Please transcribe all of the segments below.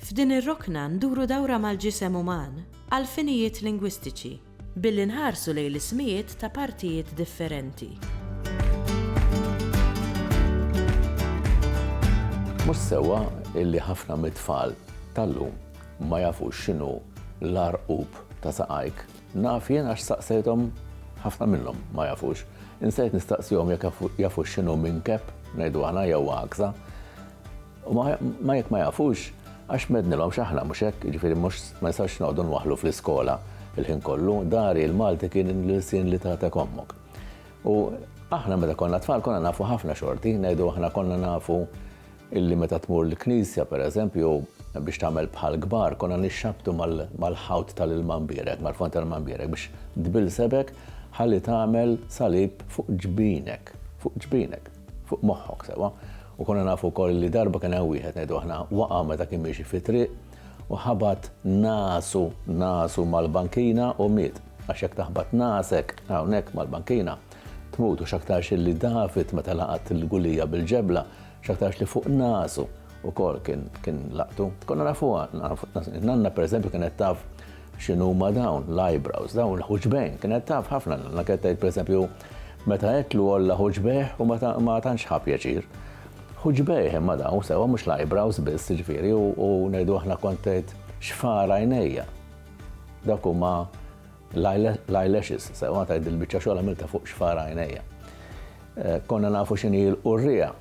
F'din ir-rokna nduru dawra mal-ġisem uman għall-finijiet lingwistiċi billi nħarsu lejn l-ismijiet ta' partijiet differenti. Mhux sewwa illi ħafna mit-tfal tal-lum ma jafux x'inhu l-għarqub ta' saqajk. Naf jien għax staqsejthom ħafna minnhom ma jafux. Insejt nistaqsihom jekk jafux x'inhu minkeb, ngħidu aħna jew għakża. U ma jekk ma jafux, għax mednilhom x'aħna, mhux hekk? Jiġifieri mhux ma nistgħux noqogħdu nwaħħlu fl-iskola l-ħin kollu. Dari, il-Malti kien l-ilsien li tagħtek ommok. U aħna meta konna tfal konna nafu ħafna xorti, ngħidu aħna konna nafu illi meta tmur l-knisja pereżempju jew biex tagħmel bħal kbar konna nixxabtu mal-ħawt tal-ilma mbierek, mal-fond tal-ilma mbierek biex tbilsebek ħalli tagħmel salib fuq ġbinek, fuq ġbinek. Fuq moħħok sewwa. U konna nafu wkoll li darba kien hemm wieħed ngħidu aħna waqa' meta kien miexi fit-triq u ħabat nasu, nasu mal-bankina u miet. Għax jekk taħbat nasek hawnhekk mal-bankina, tmut u x'aktarx li David meta laqat lil Gulija bil-ġebla, x'aktarx li fuq nasu wkoll kien laqtu. Konna nafuha, nanna pereżempju kienet taf X'inhuma dawn l-eyebrows, dawn il-ħuġbejn? Kienet taf ħafna l-Anna kienet tgħid pereżempju meta għedtlu għolla ħuġbejh u ma tantx ħa pjaċir. Ħuġbejh imma dawn sewwa mhux l-eyebrows biss jiġifieri u ngħidu aħna kont tgħid xfar għajnejja. Dak huma l-eyelashes sewwa tgħid il-biċċa xogħol għamilta fuq xfar għajnejja. Eh, konna nafu x'inhi l-qurrija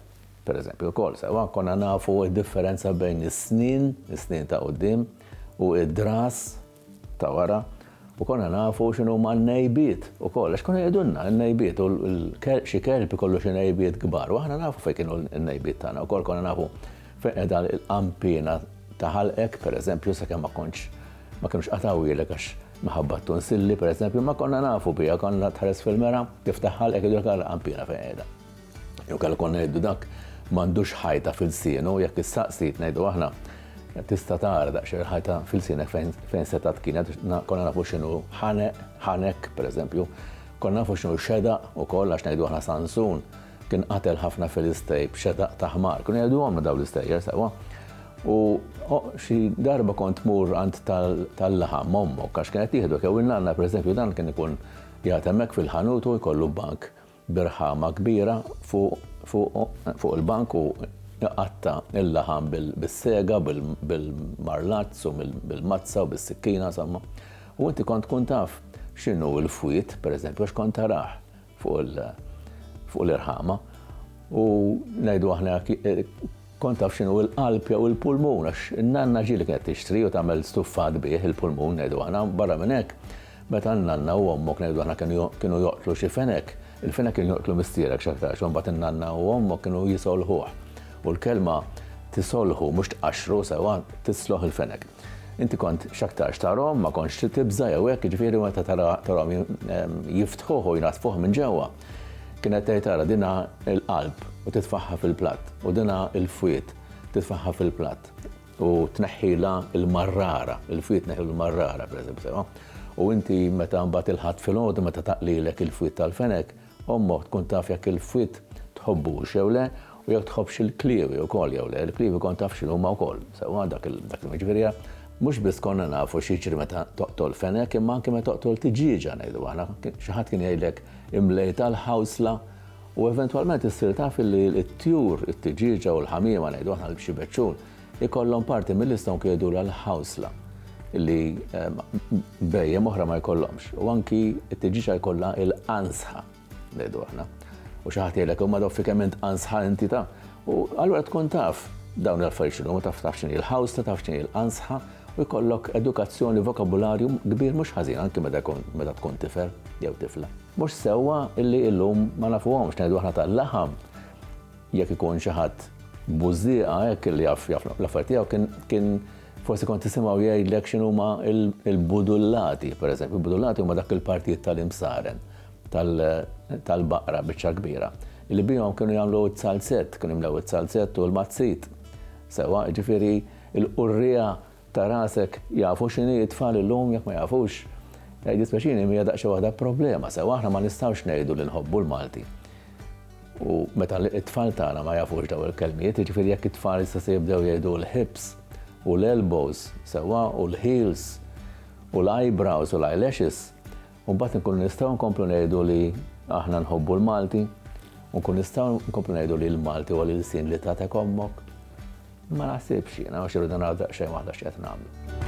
Per eżempju, lkoll sewwa konna nafu d-differenza bejn is-snien, is-snien ta' quddiem, u d-dras ta' wara, u konna nafu x'inhuma n-ngħejbiet ukoll, għax konna jgħidulna n-ngħejbiet, u xi kelb ikollu xi ngħejbiet kbar, u aħna nafu fejn kienu n-ngħejbiet tagħna wkoll, konna nafu fejn qiegħda l-qanpiena ta' ħalqek, per eżempju, sakemm ma kontx, ma kinux qatgħuhielek għax minħabba t-tunsilli, per eżempju, imma konna nafu biha, konna tħares fil-mera, tiftaħ ħalqek u jgħidulek ara l-qanpiena fejn qiegħda. Jew kellha konna ngħidu dak m'għandux ħajta fil-sienu, jekk issaqsi ngħidu aħna tista' tara daqsxejn ħajta fil-sienek fejn seta' tkienet, konna nafu x'inhu ħaneq, ħanek, pereżempju, konna nafu x'inhu xedaq ukoll għax ngħidu aħna Sansun kien qatel ħafna Filistej b'xedaq ta' ħmar. Kun jgħidu għomna daw l-istejjer sewwa. U xi darba kont mur għand tal-laħam ommok għax kienet jieħdu kew il-nanna pereżempju dan kien ikun jagħtemek fil-ħanut u jkollu bank birħama kbira fuq il-bank u jqatta' l-laħam bis-sega, bil-marlazz u bil-mazza u bis-sikkina, insomma. U inti kont tkun taf x'inhu l-fwied, pereżempju, għax kont tarah fuq l-irħama. U ngħidu aħna hekk, Kont taf x'inhu l-qalb jew il-pulmun għax in-nanna ġieli kienet tixtri u tagħmel stuffat bih, il-pulmun ngħidu aħna. Barra minn hekk, meta n-nanna u ommok ngħidu aħna kienu joqtlu xi fenek, il-fenek kien joqtlu missierek x'aktarx u mbagħad in-nanna u ommok kienu jisolħuh. U l-kelma tisolħu, mhux tqaxxru sewwa, tisloħ il-fenek. Inti kont x'aktarx tarahom, ma kontx trid tibża' jew hekk, jiġifieri meta tarahom jiftħuh u jnaddfuh minn ġewwa, kienet tgħid ara din ha l-qalb u titfagħha fil-platt, u din ha l-fwied, titfagħha fil-platt, u tneħħilha l-marrara, il-fwied tneħħilu l-marrara, pereżempju, sewwa. U inti meta mbagħad il-Ħadd filgħodu meta taqlilek il-fwied tal-fenek, Ommok tkun taf jekk il-fwied tħobbux jew le u jekk tħobbx il-kliewi wkoll jew le. Il-kliewi kont taf x'inhuma wkoll sewwa dak il-jum. Jiġifieri mhux biss konna nafu x'jiġri meta toqtol fenek imma anke meta toqtol tiġieġa ngħidu aħna. Xi ħadd kien jgħidlek imlejta l-ħawsla u eventwalment issir taf illi t-tjur, it-tiġieġa u l-ħamiema ngħidu aħna l-bxibeċċun, ikollhom parti mil-lista anki jgħidulha l-ħawsla li bhejjem oħra ma jkollhomx. U anki t-tiġiċa jkollha il-qansħa, ngħidu aħna. U xi ħadd jgħidlek imma doffi kemm int qansħa inti ta' u allura tkun taf dawn l-affarijiet x'inhu, taf taf x'inhi l-ħawsla, taf x'inhi l-qansħa u jkollok edukazzjoni vokabularju kbir mhux ħażin anki meta jkun meta tkun tifel jew tifla. Mhux sewwa illi illum ma nafuhomx ngħidu aħna tal-laħam Jekk ikun xi ħadd bużżieqa hekk illi jaf jaf l-affarijiet tiegħu kien kien forsi kont tisimgħu jgħidlek x'inhuma l-budullati, pereżempju, il-budullati huma dak il-partijiet tal-imsaren tal-baqra biċċa kbira li bihom kienu jagħmlu t-salzett, kienu jimlew it-salzett u l-mazzit. Sewwa, jiġifieri l-qurriegħa Ta' rasek, jafu x'inhi t-tfal illum jekk ma jafux? Jiddispjaċini imma hija daqsxejn waħda problema sewwa, aħna ma nistgħux ngħidu li nħobbu l-Malti u meta t-tfal tagħna ma jafux dawn il-kelmiet, jiġifieri jekk it-tfal issa se jibdew jgħidu l-hips u l-elbows sewwa u l-heels u l-eyebrows u l-eyelashes, u mbagħad inkunu nistgħu nkomplu ngħidu li aħna nħobbu l-Malti, u nkunu nistgħu nkomplu ngħidu li l-Malti huwa l-ilsien li tagħtek ommok. Ma naħsibx jiena għax irridu naraw daqsxejn waħda x'qed nagħmlu.